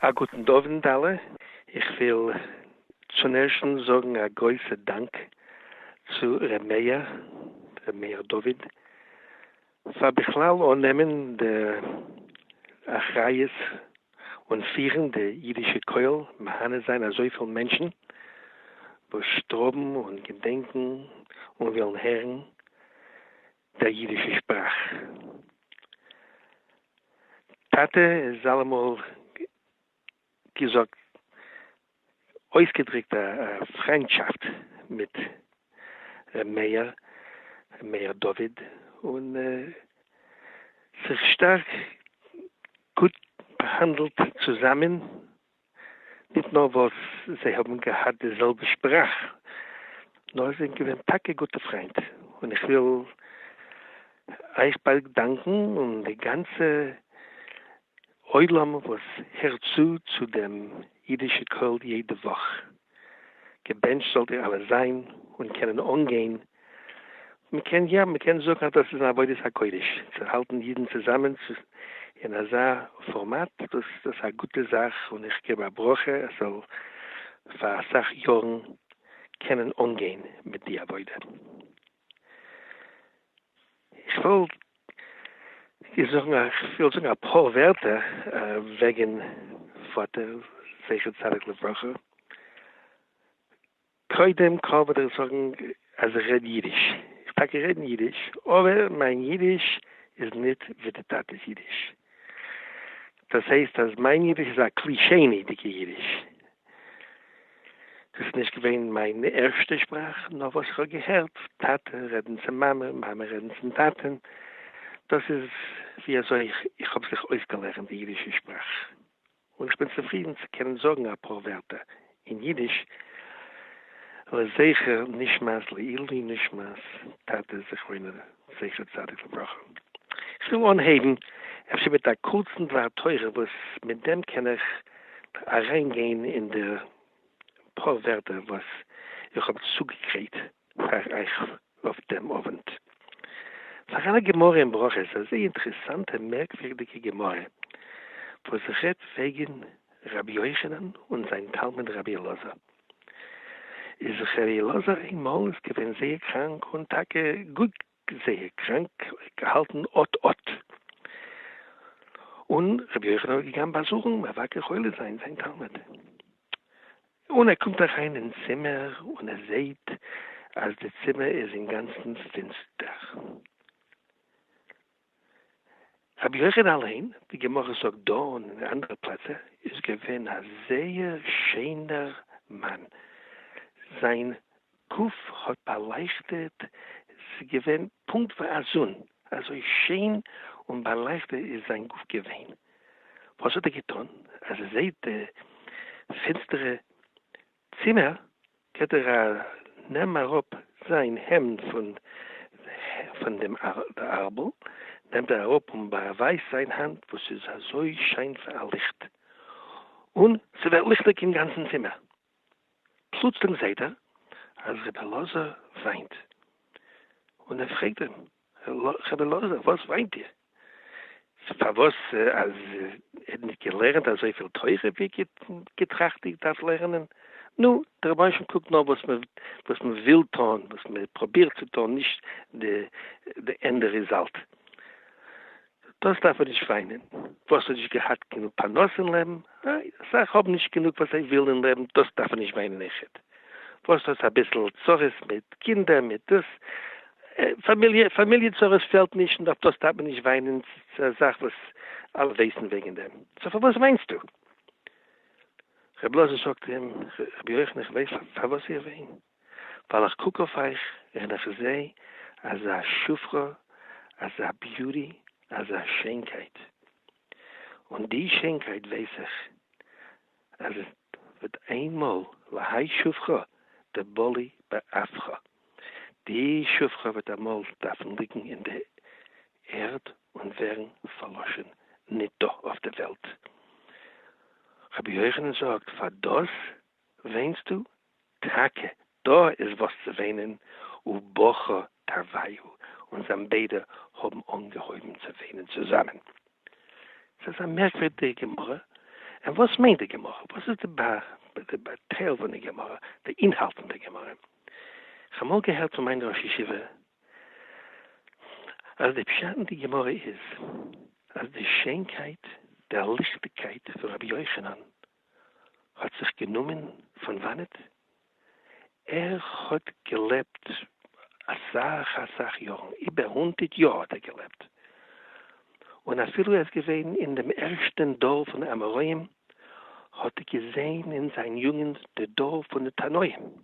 א גוטן אווענט אלע, איך וויל צון ערשטן זאגן א גרויסע דאנק צו ר' מאיר, ר' מאיר דוד, פאר בכלל אננעמען די אחריות און פירן די אידישע קויל, מהנה זיין אזויפיל מענטשן וואס שטראבן און געדענקן און ווילן הערן דער ייִדישער שפּראַך. טאַטע איז אַלע מאָל געזאָגט אויסגעדריקט אַ פֿרײַנדשאַפֿט מיט ר' מאיר, ר' מאיר דוד, און זיך שטאַרק גוט באַהאַנדלט צוזאַמען. ניט נאָר װאָס זײ האָבן געהאַט די זעלבע שפּראַך, נאָר זײ זענען געװען טאַקע גוטע פֿרײַנט. און איך װיל אײַך בײדע דאַנקען און די גאַנצע עולם, װאָס הערט צו צו דעם ייִדישע קול יעדע װאָך. געבענטשט זאלט איר אלע זיין און קענען אנגיין, מען קען יא מען קען זאגן אז דאס איז אן עבודת הקודש צו האלטן אידן צוזאמען אין אזא פארמאט, דאס דאס א גוטע זאך און איך געב א ברכה עס זאל פאר אסאך יארן קענען אנגיין מיט די עבודה. איך וויל דיר זאגן א, איך וויל זאגן אפאר ווערטער וועגן פאטער זכר צדיק לברכה. קודם כל וויל איך זאגן אז איך רעד אידיש. איך טאקע רעדן אידיש, אבער מיין אידיש איז ניט ווי די טאטע'ס אידיש. דאס הייסט אז מיין אידיש איז א קלישעני'דיגע אידיש. דאס איז נישט געווען מיין ערשטע שפראך, נאר וואס איך האב געהערט טאטע רעדן צו מאמע, מאמע רעדן צום טאטע'ן, דאס איז ווי אזוי איך האב זיך אויסגעלערנט די אידישע שפראך, און איך בין צופרידן צו קענען זאגן אפאר ווערטער אין אידיש לזכר נשמת לעילי נשמת טאטע זכרונו לברכה. זכר צדיק לברכה. כ'וויל אנהייבן אפשר מיט א קורצן דבר תורה וואס מיט דעם קען איך אריין גיין אין די פאר ווערטער וואס איך האב צוגעגרייט פאר אייך אויף דעם אווענט. פאר אלע גמרא אין ברכות אזא אינטערעסאנטע מערקווירדיגע גמרא וואס רעדט וועגן רבי יוחנן און זיין תלמיד רבי אלעזר. איז ר' אלעזר איינמאל איז געווען זייער קראנק און טאקע גאר זייער קראנק געהאלטן אט אט און ר' יוחנן איז געגאנגען באזוכן מבקר חולה זיין זיין תלמיד און ער קומט אריין אין צימער און ער זעהט אז די צימער איז אינגאנצן פינסטער. רבי יוחנן אליין, די גמרא זאגט דא און אין אנדערע פלעצער, איז געווען א זייער שענער מאן, זיין גוף האט באלייכטעט, ס'איז געווען פונקט ווי א זון, אזוי שיין און באלייכטעט איז זיין גוף געווען, וואס האט ער געטון אז ער זעט די פינסטערע צימער גייט ער א נעם אראפ זיין העמד פון פון דעם די ארבל נעמט ער אראפ און באווייזט זיין האנט וואס איז אזוי שיין ווי א ליכט און ס'ווערט ליכטיג אין גאנצן צימער פלוצלינג זעהט ער אז רבי אלעזר וויינט און ער פרעגט אים. חבר לאזער, וואס מיינט איר? פארוואס אז ער נישט געלערנט אזויפיל תורה ווי ער געטראכט איך דארף לערנען? נו, דער רבינשן קוקט נאר וואס מען וואס מען וויל טון, וואס מען פראבירט צו טון, נישט די ענדע ריזאלט. דאס דארף מען נישט וויינען, וואס האט נישט געהאט גענוג פרנסה אין לעבן, איי אסאך האבן נישט גענוג וואס זיי ווילן אין לעבן, דאס דארף מען נישט וויינען איחוד, וואס האט אביסל צרות מיט קינדער מיט דאס, פאמיליע פאמיליע צרות פעלט נישט און אויף דאס דארף מען נישט וויינען, ס'איז א זאך וואס אלע ווייסן וועגן דעם, סאו פארוואס וויינסטו? ר' אלעזר זאגט אים, רבי יוחנן איך ווייס פארוואס איך וויין. ווייל איך קוק אויף אייך און איך זע אזא שפחה, אזא ביוטי, אזא שיינקייט, און די שיינקייט ווייס איך אז עס וועט איינמאל להאי שפחה דבלי באפכא, די שפחה וועט אמאל דארפן ליגן אין די ערד און ווערן פארלאשן ניט דא אויף די וועלט. רבי יוחנן זאגט פאר דאס וויינסטו? טאקע דא איז וואס צו וויינען, ובכה תרוויו, און זיין ביידע האבן אנגעהויבן צו וויינען צוזאמען. ס'איז א מערקווירדיגע גמרא, און וואס מיינט די גמרא? וואס איז די באטייל פון די גמרא, די אינהאלט פון די גמרא? כ'האב אמאל געהערט פון מיין ראש ישיבה אז די פשט אין די גמרא איז אז די שיינקייט, די ליכטיגקייט פון רבי יוחנן האט זיך גענומען פון וואנעט ער האט געלעבט אסאך אסאך יארן, איבער הונדערט יאר האט ער געלעבט, און אפילו ער איז געווען אין דעם ערשטען דור פון די אמוראים האט ער געזעהן אין זיין יוגענט די דור פון די תנאים,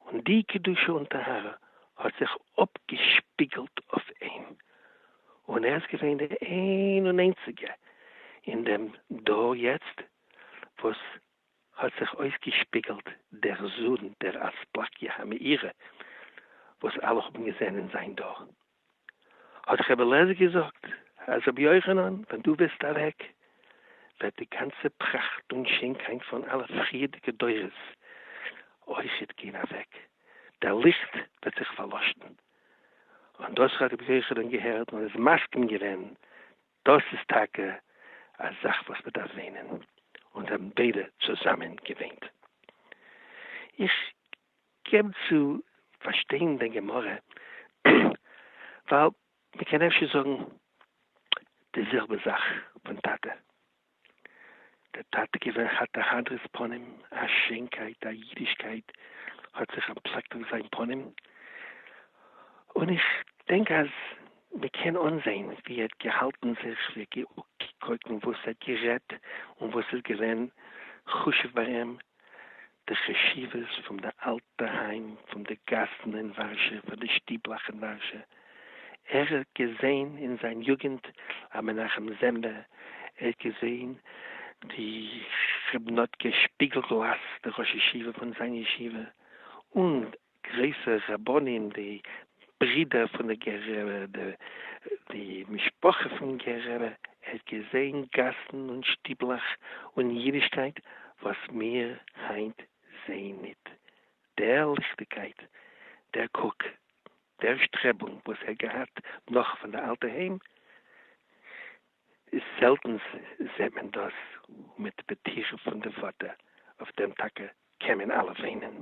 און די קדושה און טהרה האט זיך אפגעשפיגלט אויף אים, און ער איז געווען די איין און איינציגע אין דעם דור יעצט וואס האט זיך אויסגעשפיגלט דער זון דער אספקיה המאירה וואס אלע האבן געזען אין זיין דור. האט ר' אלעזר געזאגט אז רבי יוחנן ווען דו וועסט אוועק וועט די גאנצע פראכט און שענקייט פון אלע פריערדיגע דורות אויכעט גיין אוועק, דער ליכט וועט זיך פארלאשן, און דאס האט רבי יוחנן געהערט און איז מסכים געווען, דאס איז טאקע א זאך וואס מען דארף וואינען, און זיי האבן ביידע צוזאמען געוואינט. איך געב צו פארשטיין דיין גמרא ווייל מ'קען אפשר זאגן די זעלבע זאך פון טאטע, דער טאטע איז געווען כאטע הדרת פנים, א שיינקייט, א אידישקייט האט זיך אנטפלעקט אויף זיין פנים, און איך דענק אז מ'קען אנזעהן ווי ער האט געהאלטן זיך, ווי ער האט געקוקט און וואס ער האט גערעדט און וואס איז געווען חשוב ביי אים, די חשיבות פון די אלטע היים, פון די גאסן אין ווארשע, פון די שטיבלאך אין ווארשע. ער האט געזעהן אין זיין יוגענט א מנחם זעמבע, ער האט געזעהן די כ'בין האט געשפיגל גלאס די ראש ישיבה פון זיין ישיבה, און גרויסע רבנים די ברידער פון די גר א די משפחה פון גר א, ער האט געזען גאסן און שטיבלעך און אידישקייט וואס מיר היינט זעהן ניט, דער ליכטיגקייט, דער קוק, דער שטרעבונג וואס ער געהאט נאך פון די אלטע היים, איז זעלטנס זעהט מען דאס מיט פטירה פון די פאטער, אויף דעם טאקע קען מען אלע וויינען.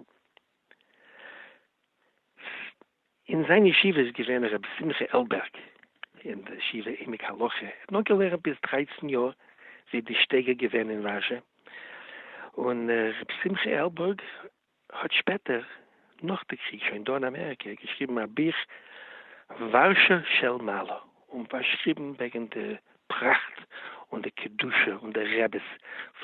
אין זיין ישיבה איז געווען הרב שמחה עלבערג אין די ישיבה עמק הלכה, ער האט נאר געלערנט ביז דרייצן יאר זי די שטייגער געווען אין וואזשע, און הרב שמחה עלבערג האט שפעטער נאך די קריג שוין דא אין אמעריקע געשריבן א ביך ווארשא של מעלה. און פארשריבן וועגן די פראכט און די קדושה און די רעבעס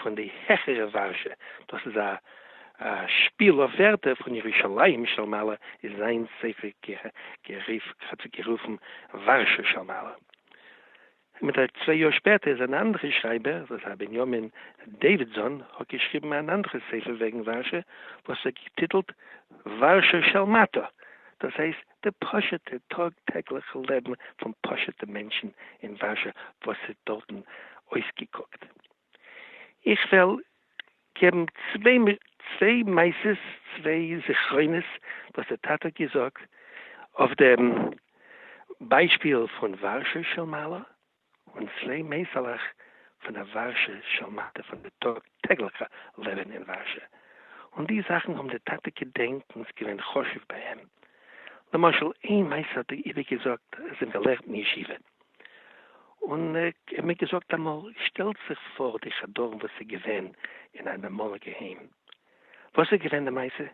פון די העכערע ווארשע, דאס איז א שפיל אויף ווערטער פון ירושלים של מעלה איז זיין ספר גערופן ווארשע של מעלה. מיט א צוויי יאר שפעטער איז אן אנדערע שרייבער וואס הייסט בנימין דעווידזאן האט געשריבן אן אנדערע ספר וועגן ווארשע וואס ער האט געטיטלט ווארשע של מטה דאס הייסט די פשוט'ע טאג טעגליכע לעבן פון פשוט'ע מענטשן אין ווארשע וואס ס'האט דארטן אויסגעקוקט. איך וועל געבן צוויי מעשות, צוויי זכרונות וואס די טאטע האט געזאגט אויף דעם ביישפיל פון ווארשע של מעלה. און צוויי מעשה'לעך פון די ווארשע של מטה פון די טאג טעגליכע לעבען אין ווארשע, און די זאכן האבן די טאטע געדענקענס געווען חשוב ביי אים, למשל איין מעשה האט ער איבער געזאגט אז אים געלערנט אין ישיבה, און ער מיר געזאגט אמאל שטעלט זיך פאר די חדרים וואס איז געווען אין אן אמאליגע היים, וואס איז געווען די מעשה?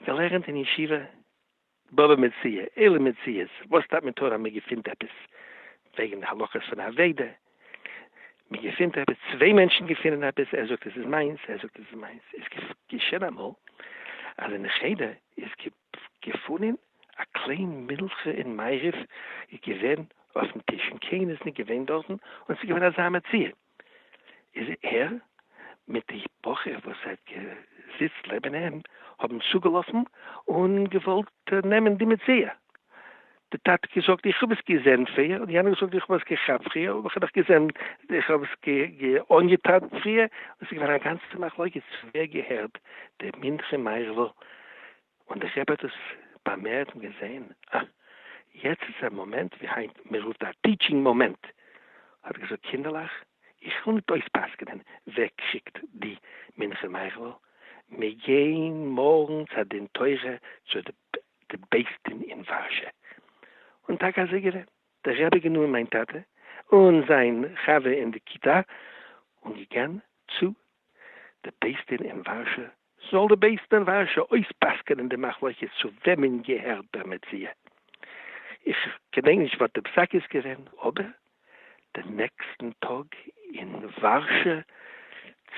געלערנט אין ישיבה בבא מציעא, אילו מציאות, וואס טייט מען תורה? מען געפינט עפעס וועגן די הלכות פון אבידה, מען געפינט עפעס, צוויי מענטשן געפינען עפעס, ער זאגט עס איז מיינס, ער זאגט עס איז מיינס, איז געשען אמאל אז אין די חדר איז געפונען א קליין מילכע און מעריב איז געווען אויפן טיש און קיינער איז נישט געווען דארטן און עס איז געווען אזא מציאה, איז ער מיט די בחור וואס האט געזיצט לעבן אים האבן צוגעלאפן און געוואלט נעמען די מציאה, די טאטע האט געזאגט איך האב עס געזען פריער, און יענער האט געזאגט איך האב עס געכאפט פריער, אבער איך האב דאך געזען, איך האב עס אנגעטאן פריער, און עס איז געווען א גאנצע מחלוקת ווער געהערט די מנחה מערב'ל און איך האב עטוואס באמערט און געזעהן, אה, יעצט איז א מאמענט ווי היינט מען רופט א טיטשינג מאמענט, האט ער געזאגט, קינדערלעך, איך וויל ניט אויספסק'נען ווער קריגט די מנחה מייכל'ל, מיר גייען מארגן צו א דין תורה צו די בית דין אין ווארשע. און טאקע אזוי געווען, דער רבי האט גענומען מיין טאטע און זיין חבר אין די כיתה און געגאן צו די בית דין אין ווארשע זאל די בית דין ווארשא אויספסק'נען די מחלוקת צו וועמען געהערט דער מציאה. איך געדענק נישט וואס די פסק איז געווען, אבער די נעקסטן טאג אין ווארשא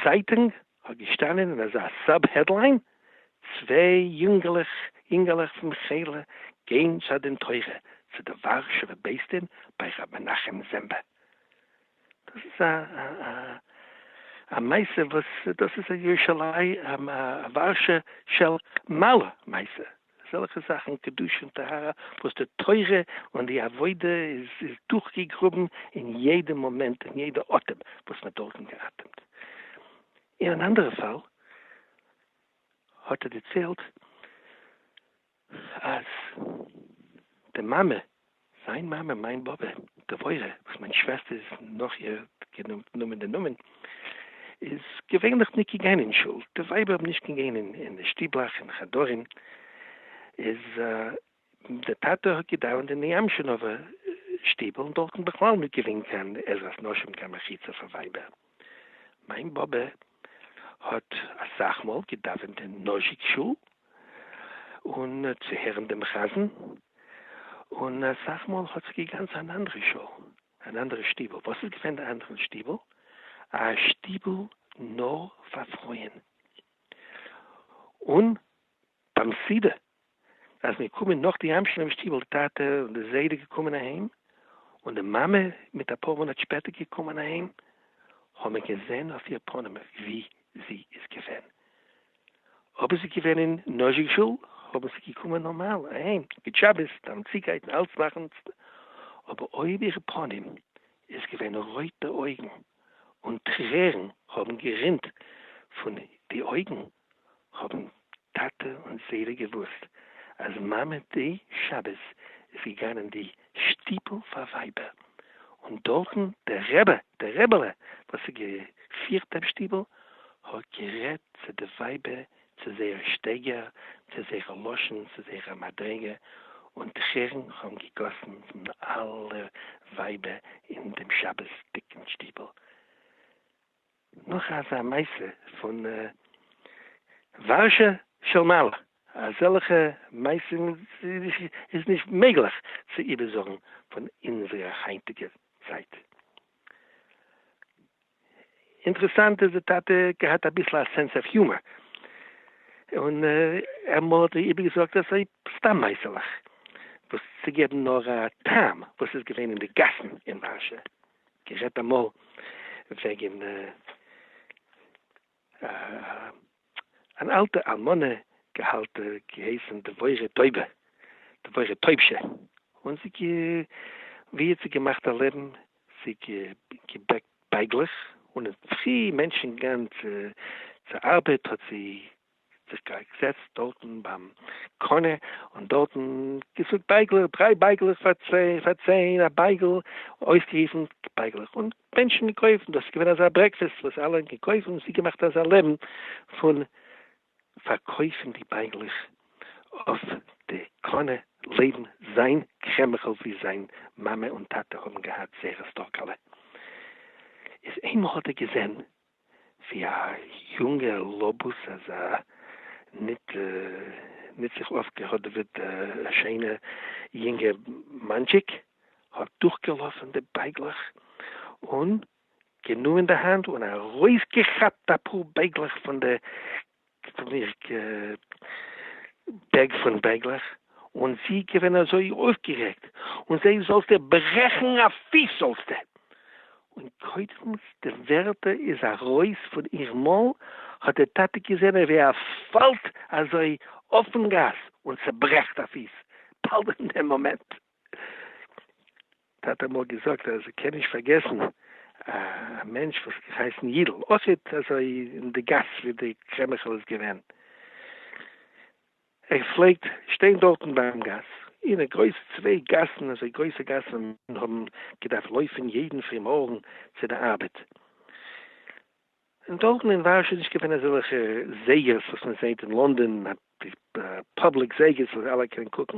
צייטונג האט געשטאנען אין אזא סאב העדליין, צוויי יונגעלעך פון מכילה גיין צו א דין תורה צו די ווארשעווע בית דין ביי ר' מנחם זעמבא. דאס איז א א מעשה וואס דאס איז א ירושלים א ווארשע של מעלה מעשה, אזעלכע זאכן קדושה און טהרה וואס די תורה און די עבודה איז איז דורכגעגראבן אין יעדע מאמענט אין יעדע אטעם וואס מען האט דארטן געאטעמט. אין אן אנדערע פאל האט ער דערציילט. אז די מאמע, זיין מאמע, מיין באבע, דבורה, וואס מיין שוועסטער איז נאך איר גענומען די נאמען, איז געווענליך ניט געגאנען אין שול, די ווייבער האבן נישט געגאנען אין די שטיבלאך און חדרים, איז דער טאטע האט געדאווענט אין די אמשינאווער שטיבל און דארטן בכלל ניט געווען קיין עזרת נשים, קיין מחיצה פאר ווייבער. מיין באבע האט אסאך מאל געדאווענט אין נאזשיק שול אן צו הערן דעם חזן, און אסאך מאל האט זי געגאנגען צו אן אנדערע שול, אן אנדערע שטיבל. וואס איז געווען די אנדערע שטיבל? א שטיבל נאר פאר פרויען, און ביים סידור אז מיר קומען נאך די המשל אין שטיבל די טאטע און די זיידע געקומען אהיים און די מאמע מיט אפאר מאנאט שפעטער געקומען אהיים האבן מיר געזען אויף איר פנים ווי זי איז געווען אויב איז געווען אין נז'ק שול האבן זי געקומען נארמאל אהיים גוט שבת טעם צוגייטן אלץ מאכן אבער אויב איר פנים איז געווען רויטע אויגן און טרערן האבן גערינט פון די אויגן האבן טאטע און זיידע געוואוסט אז מאמע די שבת איז געגאנן אין די שטיבל פאר ווייבער, און דארטן דער רעבע, דער רעבעלע וואס האט געפירט דעם שטיבל, האט גערעדט צו די ווייבער צו זייער שטייגער, צו זייער לשון, צו זייער מדריגה, און טרערן האבן געגאסן פון אלע ווייבער אין דעם שבת'דיגן שטיבל, נאך אזא מעשה פון ווארשע של מעלה, אזעלכע מעשים איז נישט מעגליך צו איבערזאגן פון אונזערע היינטיגע צייט. אינטערעסאנט איז די טאטע געהאט אביסל א סענס אף יומער, און אמאל האט ער איבערגעזאגט אזוי סתם מעשה'לעך וואס צו געבן נאר א טעם וואס איז געווען אין די גאסן אין ווארשע. גערעדט אמאל וועגן אן אלטע אלמנה געהאלט געהייסן דבורה טויבע, דבורה טויבשע, און זי ווי האט זי געמאכט א לעבן? זי געבעקט בייגלעך און אין פרי מענטשן גאנץ צו ארבעט האט זי זיך געזעצט דארטן ביים קונה און דארטן געזאגט בייגלעך, דריי בייגלעך פאר צען א בייגל, אויסגערופן בייגלעך און מענטשן געקויפט, דאס איז געווען אזא ברעקפעסט וואס אלע האבן געקויפט און עס איז געמאכט אזא לעבן פון פארקויפן די בייגלעך אויף די קונה לעבן זיין קרעמער'ל ווי זיין מאמע און טאטע האבן געהאט זייערע סטארקעלע, איז איינמאל האט ער געזען ווי א יונגער לאבוס אז א ניט ניט זיך אויפגעהאדעוועט שיינע יונגע מאנטשיק האט דורכגעלאפן די בייגלעך און גענומען די האנט און ארויסגעכאפט אפאר בייגלעך פון די כ'פיל מיך ג בעג פון בעגלעך, און זי איז געווען אזוי אויפגערעגט, און זיי זאלסטע ברעכן א פיס זאלסטע! און קודם די ווערטער איז ארויס פון איר מויל, האט די טאטע געזען ווי ער פאלט אזוי אויפן גאס און צעברעכט א פיס, באלד אין דעם מאמענט. ט האט אמאל געזאגט אז ער קען נישט פארגעסן א מענטש וואס איז געהייסן יידל, אויכעט אזוי אין די גאס ווי די קרעמעכל איז געווען, ער פלעגט שטיין דארטן ביים גאס, אין א גרויסע צוויי גאסן, אזוי גרויסע גאסן ווי מענטשן האבן געדארפט לויפן יעדן פרימארגן צו די ארבעט, און דארטן אין ווארשע איז נישט געווען אזעלכע זייגערס וואס מען זעט אין לונדון, די פובליק זייגערס וואס אלע קענען קוקן,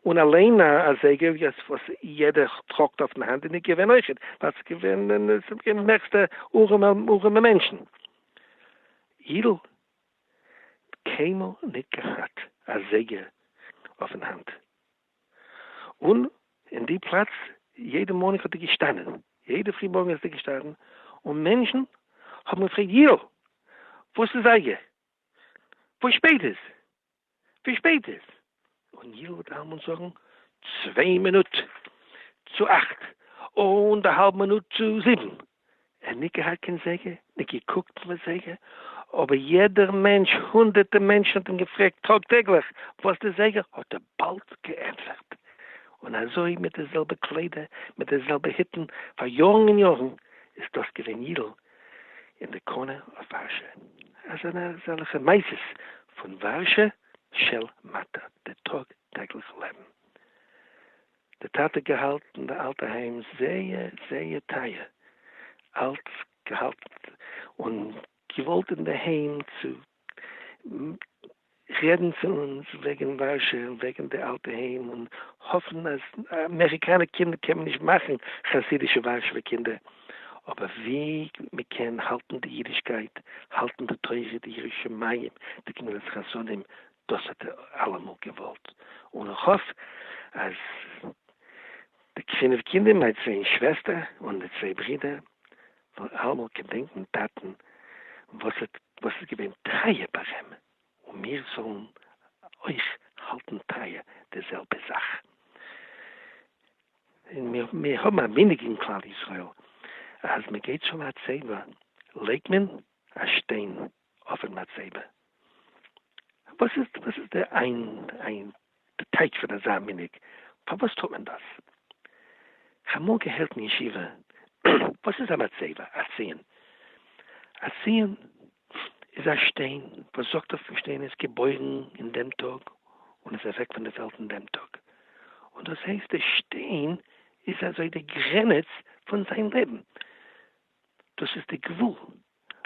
און אליין א זייגער וואס יעדער טראגט אויפן האנט איז נישט געווען אויכעט, ווייל ס'איז געווען די מערסטע ארעמע מענטשן. יידל האט קיינמאל נישט געהאט א זייגער אויפן האנט, און אין די פלאץ יעדע מארנינג האט ער געשטאנען, יעדע פרי מארגן איז ער געשטאנען, און מענטשן האבן געפרעגט ייל! וואס איז אייגער? ווי שפעט איז? ווי שפעט איז? און ייל וועט אלעמאל זאגן, צוויי מינוט צו אכט, און די האלב מינוט צו זיבן. ער ניט געהאַט קײן זײגער, ניט געקוקט אין אַ זײגער, אָבער יעדער מענטש, הונדערטער מענטשן האָט אים געפֿרעגט טאָג-טעגלעך, װאָס די זײגער, האָט ער באַלד געענטפֿערט. און אַזױ, מיט די זעלבע קלײדער, מיט די זעלבע היטן, פֿאַר יאָרן און יאָרן, איז דאָס געװען ייִדל אין די קאָנע אױף װאַרשע. אַ זענען אַזעלכע מעשׂות פֿון װאַרשע של מטה, די טאָג-טעגלעך לעבן. די טאטע האט געהאלטן די אלטע היים זייער זייער טייער, אלץ געהאלטן און געוואלט אינדערהיים צו רעדן צו אונז וועגן ווארשע און וועגן די אלטע היים און האפן אז אמעריקאנע קינדער קען מען נישט מאכן חסידישע ווארשעווע קינדער אבער ווי מען קען האלטן די אידישקייט האלטן די תורה די ירא שמים די גמילות חסדים דאס האט ער אלעמאל געוואלט, און איך האף אז די פינף קינדער, מיין צוויי שוועסטער און די צוויי ברידער, וועלן אלעמאל געדענקן טאטן וואס איז געווען טרייע פאר אים, און מיר זאלן אויך האלטן טרייע די זעלבע זאך. און מיר האבן א מנהג אין כלל ישראל, אז מען געט שלא הצבע לייגט מען א שטיין אויפן מצבה, וואס איז וואס איז די עיין עיין די טייטש פון אזא מנהג, פארוואס טוט מען דאס? כ'האב אמאל געהערט אין ישיבה, וואס איז א מצבה? א ציון? א ציון איז א שטיין וואס זאגט אויף די שטיין איז געבוירן אין דעם טאג און איז אוועק פון די וועלט אין דעם טאג, און דאס הייסט די שטיין איז אזוי די גרעניץ פון זיין לעבן, דאס איז די גבול.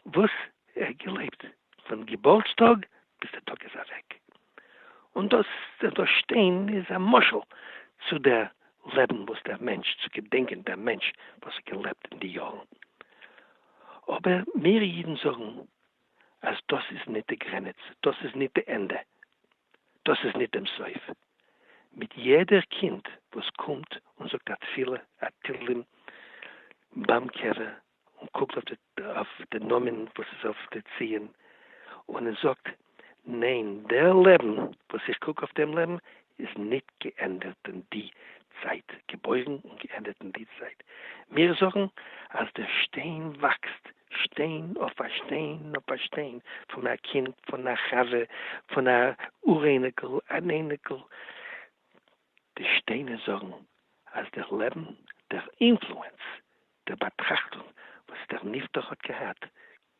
וואס ער האט געלעבט פון געבורטס טאג ביז די טאג איז אוועק, און דאס דא שטיין איז א משל צו דער לעבן וואס דער מענטש צו געדענקען דער מענטש וואס האט געלעבט אין די יארן, אבער מיר אידן זאגן אז דאס איז ניט די גרעניץ, דאס איז ניט די ענדע, דאס איז ניט דעם סוף, מיט יעדער קינד וואס קומט און זאגט א תפילה א תהלים ביים קבר און קוקט אויף די נאמען וואס איז אויף די ציון און ער זאגט, ניין דער לעבן וואס איך קוק אויף דעם לעבן איז ניט געענדערט אין די צייט, געבוירן און געענדערט אין די צייט. מיר זאגן אז דער שטיין וואקסט, שטיין אויף א שטיין אויף א שטיין, פון א קינד, פון א חבר, פון א אור אייניקל, אן אייניקל, די שטיינער זאגן אז דער לעבן, דער אינפלוענס די באטראכטונג וואס דער נפטר האט געהאט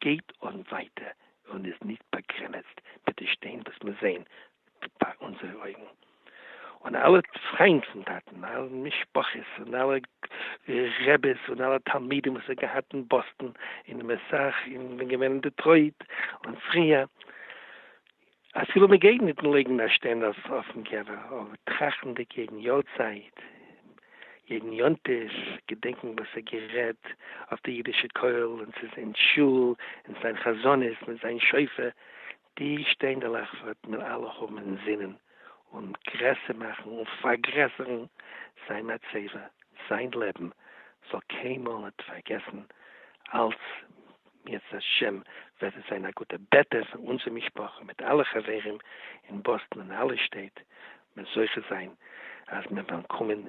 גייט אן ווייטער און איז נישט באגרענעצט מיט די שטיין וואס מיר זעען פאר אונזערע אויגן, און אלע פריינד פון טאטן, אלע משפחות און אלע רעבעס און אלע תלמידים וואס ער האט געהאט אין באסטן און אין מסח און געווען אין דעטרויט און פריער. אפילו מען גייט ניט לייגן א שטיין אויף אויפן קבר, אבער טראכטנדיק יעדן יארצייט, יעדן יום טוב, געדענקען וואס ער האט גערעדט אויף די אידישע קויל און צו זיין שול און זיין חזנות מיט זיין שופר, די שטיינדעלעך וועט מען אלע האבן אין זינען און גרעסער מאכן און פארגרעסערן זיין מצבה, זיין לעבן זאל קיינמאל ניט פארגעסן אלץ בעזהש וועט עס זיין א גוטע בעטע פאר אונזער משפחה מיט אלע חברים אין באסטן און אלע שטעט מען זוכה זיין אז מען וועלן קומען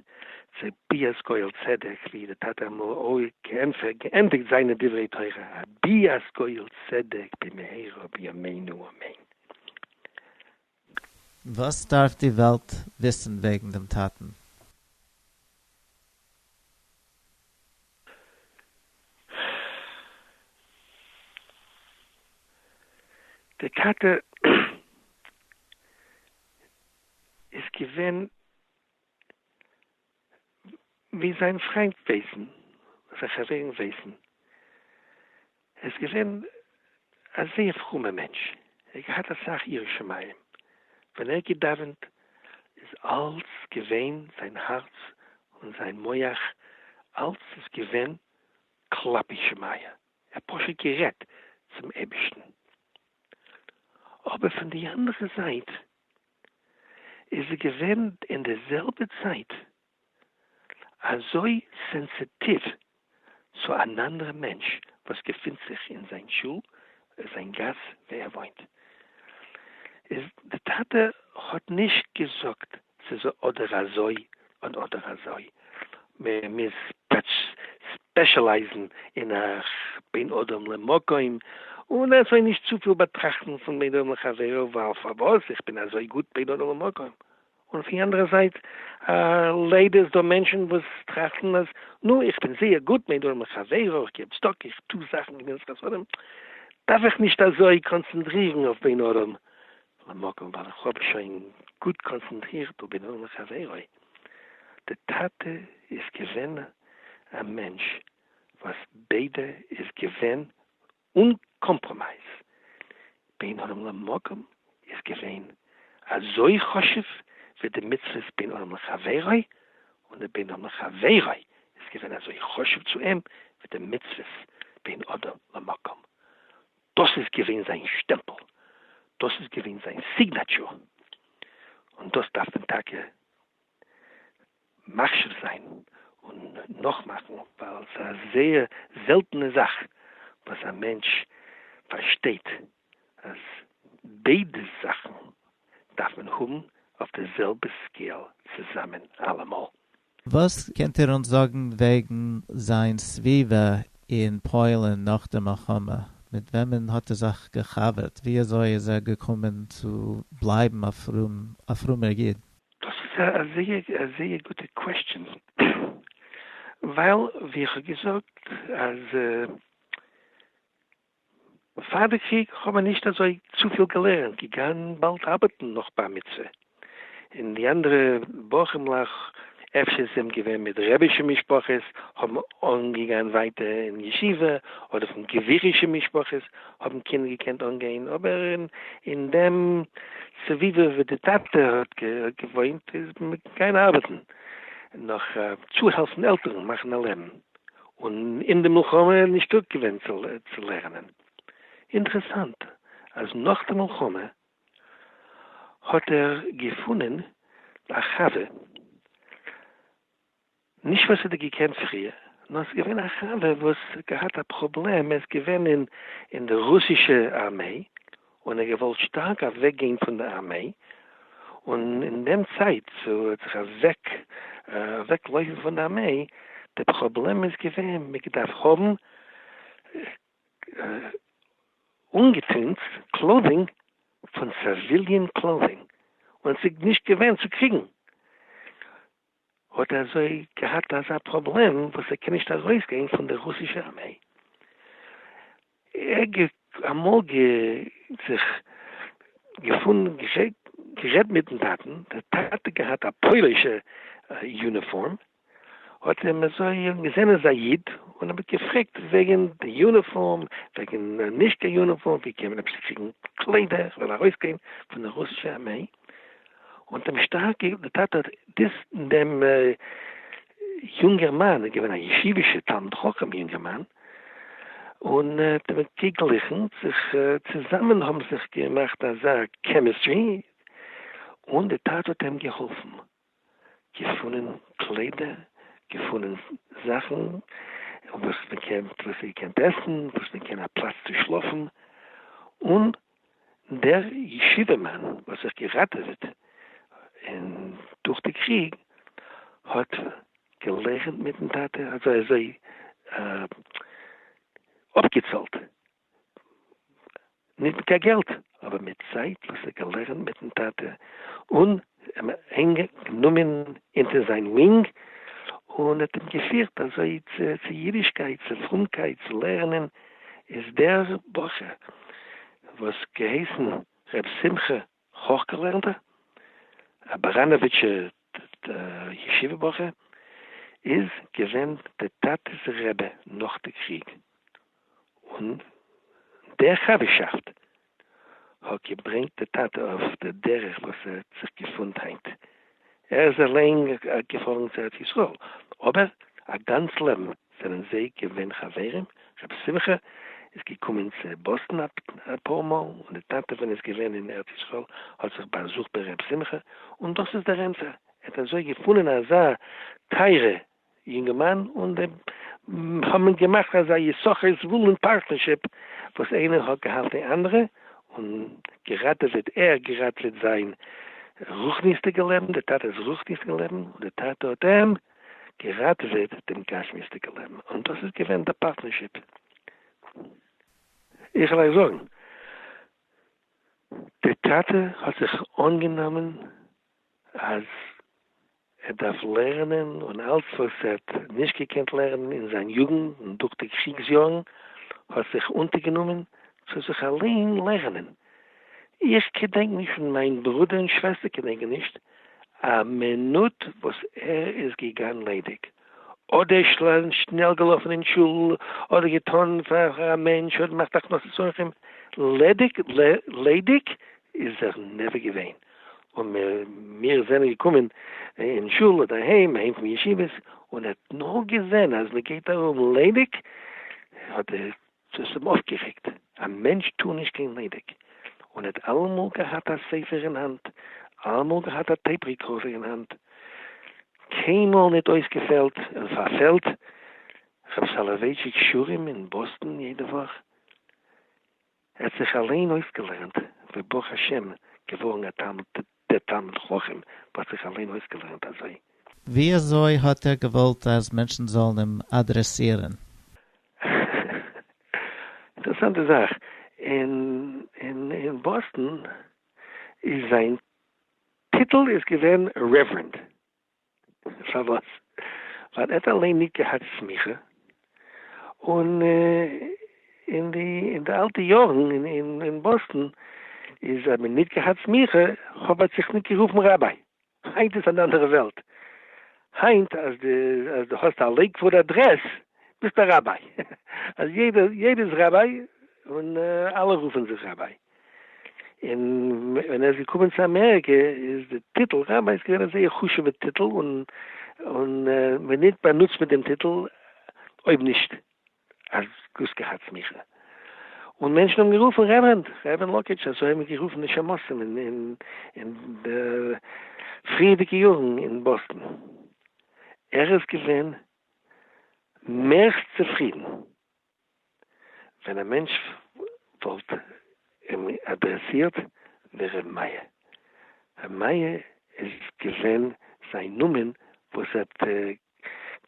צו ביאת גואל צדק ווי דער טאטע אמור ע געענדיגט זיינע דברי תורה א ביאת גואל צדק במהרה בימינו אמן. וואס דארף די וועלט וויסן וועגן דעם טאטן? דער טאטע איז געווען ווי זיין פריינט ווייסן, זיין חברים ווייסן, ער איז געווען א זייער פרומער מענטש, ער האט געהאט אסאך יראת שמים, ווען ער האט געדאווענט איז אלץ געווען זיין הארץ און זיין מח אלץ איז געווען כלפי שמיא, ער האט פשוט גערעדט צום אייבערשטן, אבער פון די אנדערע זייט איז ער געווען אין די זעלבע צייט אזוי סענסיטיוו צו אן אנדערע מענטש וואס געפינט זיך אין זיין שול און זיין גאס ווי ער וואוינט. איז די טאטע האט נישט געזאגט ס'איז אדער אזוי און אדער אזוי, מען מוז ספעשעלייזן אין א בין אדם למקום, און אזוי נישט צופיל באטראכטן פון בין אדם לחבירו ווייל פארוואס איך בין אזוי גוט בין אדם למקום, און אויף די אנדערע זייט ליידער איז דא מענטשן וואס טראכטן אז נו איך בין זייער גוט בין אדם לחבירו, איך געב צדקה, איך טו זאכן גמילות חסדים, דארף איך נישט אזוי קאנצענטרירן אויף בין אדם למקום ווייל איך האב שוין גוט קאנצענטרירט ובנועם לחברו, די טאטע איז געווען א מענטש וואס ביידע איז געווען אן קאמפראמייז, בין אדם למקום איז געווען אזוי חשוב ווי די מצוות בין אדם לחברו, און די בין אדם לחברו איז געווען אזוי חשוב צו אים ווי די מצוות בין אדם למקום, דאס איז געווען זיין שטעמפל, דאס איז געווען זיין סיגנעטשור, און דאס דארף מען טאקע מחשיב זיין און נאכמאכן, ווייל ס'איז א זייער זעלטענע זאך וואס א מענטש פארשטייט אז ביידע זאכן דארף מען האבן אויף די זעלבע סקעיל צוזאמען אלעמאל. וואס קענט איר אונז זאגן וועגן זיין סביבה אין פוילן נאך די מלחמה? מיט וועמען האט ער זיך געחבר'ט? ווי אזוי איז ער געקומען צו בלייבן א פרום א פרומער איד? דאס איז א זייער א זייער גוטע קוועסטשען, ווייל ווי איך האב געזאגט אז פאר די קריג האבן מיר נישט אזוי צופיל געלערנט, געגאנן באלד ארבעטן נאך בר מצוה, און די אנדערע בחור'מלעך אפשר זיי האבן געווען מיט רבי'שע משפחות האבן אנגעגאנן ווייטער אין ישיבה, אדער פון גבירישע משפחות האבן קינדער געקענט אנגיין, אבער אין דעם סביבה וואו די טאטע האט געוואוינט איז מען געגאנגען ארבעטן נאך צוהעלפן עלטערן מאכן א לעבן, און אין די מלחמה נישט טויג געווען צו לערנען. אינטערעסאנט אז נאך די מלחמה האט ער געפונען א חבר, נישט וואס ער האט געקענט פריער, נאר עס איז געווען א חבר וואס האט געהאט א פראבלעם, ער איז געווען אין די רוסישע ארמעי, און ער האט געוואלט שטארק אוועק גיין פון די ארמעי, און אין דעם צייט צו ער האט זיך אוועק אוועק לויפן פון די ארמעי, די פראבלעם איז געווען מען געדארפט האבן אנגעטוהן קלאדינג פון סעוויליען קלאדינג, און עס איז נישט געווען צו קריגן. האט ער אזוי געהאט אזא פראבלעם וואס ער קען נישט ארויס גיין פון די רוסישע ארמיי, ער גע אמאל גע זיך געפונען געשעט גערעדט מיטן טאטן, דער טאטע געהאט א פוילישע יוניפארם, האט אים אזוי געזען איז א איד, און האט געפרעגט וועגן די יוניפארם, וועגן נישט קיין יוניפארם, ווי קען מען אפשר קריגן קליידער, איך וויל ארויס גיין פון די רוסישע ארמיי, און דעם שטארק געגעבן די טאטע האט דאס דעם יונגערמאן איז געווען א ישיבישע תלמיד חכם יונגערמאן און האט אים געגליכן זיך צוזאמען האבן זיך געמאכט אזא קעמיסטרי און די טאטע האט אים געהאלפן. געפונען קליידער, געפונען זאכן וואס מען קען, וואס איר קענט עסן, וואס מען קען א פלאץ צו שלאפן, און דער ישיבה מאן וואס האט זיך געראטעוועט אין דורך די קריג האט געלערנט מיטן טאטע אזוי אזוי אפגעצאלט. ניט מיט קיין געלט, אָבער מיט צײַט, װאָס ער האָט געלערנט מיטן טאַטע און אים ענג גענומען אונטער זײַן װוינג און האָט אים געפֿירט אַזױ צו צו ייִדישקײט, צו פֿרומקײט, צו לערנען, איז דער בחור, װאָס געהײסן רב שׂימחה, הויכגעלערנטער, א באראנאוויטשער ישיבה בחור, איז געווען דער טאטע'ס רבי נאך די קריג, און דער חבר'שאפט האט געברענגט די טאטע אויף דער דרך וואס ער האט זיך געפונט היינט ער איז אליין געפארן צו ארץ ישראל, אבער א גאנץ לעבן זענען זיי געווען חברים, ר' שמחה איז געקומען צו באסטן אפאר מאל, און די טאטע ווען איז געווען אין ארץ ישראל האט זיך באזוכט ביי ר' שמחה, און דאס איז דער ענטפער, ער האט אזוי געפונען אזא טייערע יונגערמאן און די האבן געמאכט אזא יששכר זבולון פארטנערשיפ וואס איינער האט געהאלטן די אנדערע און געראטעוועט ער געראטעוועט זיין רוחניות'דיגע לעבן די טאטע'ס רוחניות'דיגע לעבן און די טאטע האט אים געראטעוועט דעם גשמיות'דיגע לעבן און דאס איז געווען די פארטנערשיפ איך וועל אייך זאגן די טאטע האט זיך אנגענומען אז ער דארף לערנען און אלץ וואס ער האט נישט געקענט לערנען אין זיין יוגנט און דורך די קריגס יארן האט זיך אונטערגענומען צו זיך אליין לערנען. איך געדענק נישט און מיין ברודער און שוועסטער געדענקען נישט א מינוט וואס ער איז געגאנן ליידיג, אדער שנעל געלאפן אין שול, אדער געטאן פאר א מענטש, אדער געמאכט הכנסת אורחים, ליידיג איז ער נעווער געווען. און מיר זענען געקומען אין שול אדער אהיים, אהיים פון ישיבות, און ער האט נאר געזען אז מען גייט ארום ליידיג, האט ער, דאס האט אים אויפגערעגט, א מענטש טאר נישט גיין ליידיג, און ער האט אלעמאל געהאט א ספר אין האנט, אלעמאל געהאט א טעיפ ריקארדער אין האנט, קיינמאל ניט אויסגעפעלט און פארפעלט, רב סאלאווייטשיק שירים אין באסטאן יעדע וואך. ער האט זיך אליין אויסגעלערנט ווי ברוך השם געווארן א תלמיד דער תלמיד חכם וואס זיך אליין אויסגעלערנט אזוי. ווי אזוי האט ער געוואלט אז מענטשן זאלן אים אדרעסירן? אינטערעסאנטע זאך, אין באסטן איז זיין טיטל איז געווען רעווערענד. פארוואס? ווייל ער האט אליין ניט געהאט סמיכה, און אין די אין די אלטע יארן אין באסטן איז האט מען ניט געהאט סמיכה, חב האט זיך ניט גערופן ראביי, היינט איז אן אנדערע וועלט, היינט אז די אז די האסט א לעיקוואוד אדרעס ביסט א ראביי, אז יעדער יעדער איז ראביי און אלע רופן זיך ראביי. און ווען ער איז געקומען צו אמעריקע איז די טיטל רבי איז געווען א זייער חשובע טיטל און און ווען ניט באנוצט מען דעם טיטל אויב נישט אז דאס געהאט סמיכה און מענטשן האבן גערופן רעווערענד רעווערענד לאקעטש אזוי האבן גערופן די שמשים אין אין אין די פריערדיגע יארן אין באסטן ער איז געווען מערסט צופרידן. ווען א מענטש וואלט אים אדרעסירט ווי ר' מאיר. ר' מאיר איז געווען זיין נאמען וואס האט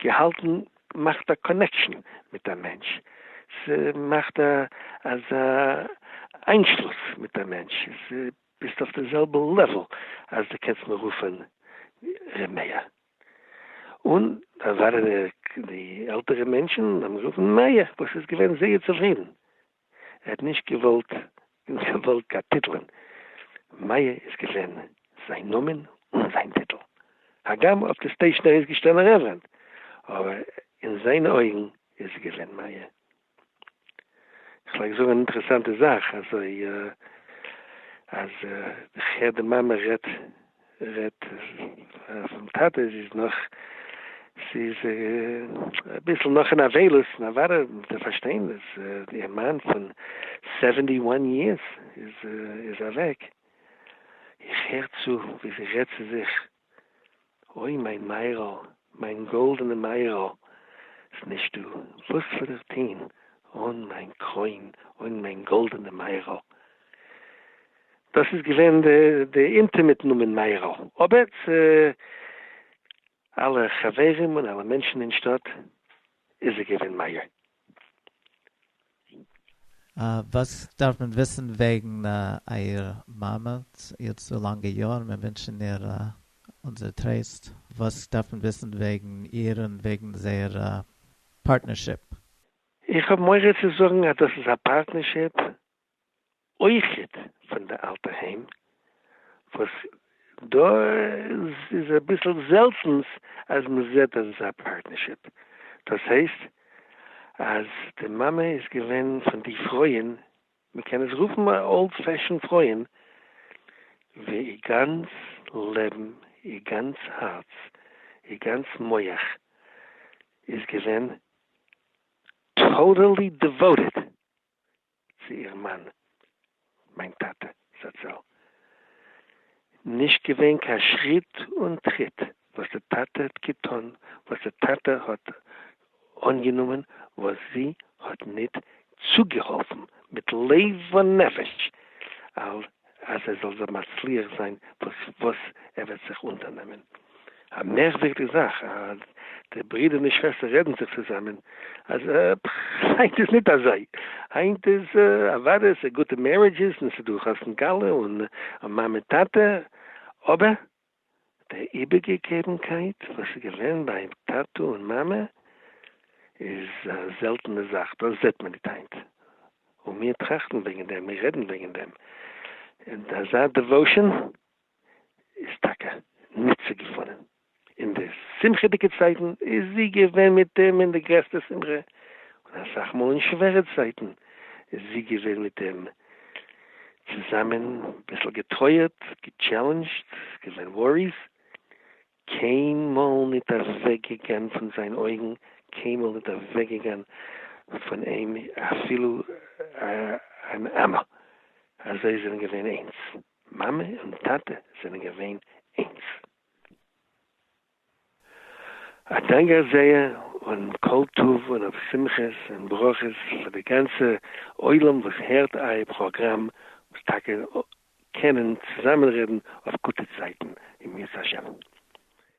געהאלטן מאכט א קאנעקשאן מיט א מענטש, ס'מאכט אזא איינשלוס מיט א מענטש, ס'ביסט אויף די זעלבע לעוועל אז די קענסט מיר רופען ר' מאיר. און דאן זיינען די עלטערע מענטשען האבן גערופן מאיר וואס איז געווען זייער צופרידן, ער האט נישט געוואלט געוואלט קיין טיטלען, מאיר איז געווען זיין נאמען און זיין טיטל, הגם אויף די סטעישען איז געשטאנען רעווערענד, אבער אין זיינע אויגן איז ער געווען מאיר. כ'פלעג זאגן אן אינטערעסאנטע זאך, אזוי אז איך הער די מאמע רעדט רעדט פונעם טאטע, זי איז נאך זי איז אביסל נאך אין אבילות, נו וואדע מ'וועט דאך פארשטיין אז איר מאן פון סעווענטי וואן יערס איז איז אוועק, איך הער צו ווי זי רעדט צו זיך אוי מיין מאיר'ל, מיין גאלדענע מאיר'ל, ס'נישטא וואס זאל איך טוהן אן מיין קרוין, אן מיין גאלדענע מאיר'ל. דאס איז געווען די אינטימעט נאמען מאיר'ל, אבער צו אלע חברים און אלע מענטשן אין שטאט איז ער געווען מאיר. וואס דארף מען וויסן וועגן אייער מאמע איר האט צו לאנגע יארן מיר ווינטשן איר אונזער טרייסט, וואס דארף מען וויסן וועגן איר און וועגן זייער פארטנערשיפ? איך האב מורא צו זאגן אז דאס איז א פארטנערשיפ אויכעט פון די אלטע היים וואס דא איז אביסל זעלטענס אז מען זעט אזא פארטנערשיפ, דאס הייסט אז די מאמע איז געווען פון די פרויען, מען קען עס רופן א אולד פעשען פרויען, ווי איר גאנץ לעבן, איר גאנץ הארץ, איר גאנץ מח איז געווען טאטעלי דעוואוטעד. צו איר מאן מיין טאטע זצל, נישט געווען קיין שריט און טריט וואס די טאטע האט געטון וואס די טאטע האט אנגענומען וואס זי האט ניט צוגעהאלפן מיט לב ונפש אל אז ער זאל זיך מצליח זיין וואס וואס ער וועט זיך אונטערנעמען. א מערקווירדיג זאך אז די ברידער און די שוועסטער רעדן זיך צוזאמען אז עפ כ היינט איז ניט אזוי, היינט איז אוואדע ס'איז גוטע מערידזשעס און ס'איז דא חתן כלה און מאמע טאטע, אבער די איבערגעגעבנקייט וואס איז געווען ביי טאטע און מאמע איז א זעלטענע זאך, דאס זעט מען ניט היינט, און מיר טראכטן וועגן דעם, מיר רעדן וועגן דעם, און אזא דעוואושען איז טאקע ניט צו געפונען. אין די שמחה'דיגע צייטן איז זי געווען מיט אים אין די גרעסטע שמחה, און אסאך מאל אין שווערע צייטן איז זי געווען מיט אים אין צוזאמען ביסל געטרויערט, געטשעלענדזשט, געווען וואריס, קיינמאל ניט אוועק געגאן פון זיין אויגן, קיינמאל ניט אוועק געגאן פון אים אפילו אן אמה, אזוי זענען געווען איינס, מאמע און טאטע זענען געווען איינס. א דאנק גאר זייער און כל טוב און אויף שמחות און ברכות פאר די גאנצע עולם וואס הערט אייער פראגראם וואס טאקע קענען צוזאמען רעדן אויף גוטע צייטן אם ירצה השם.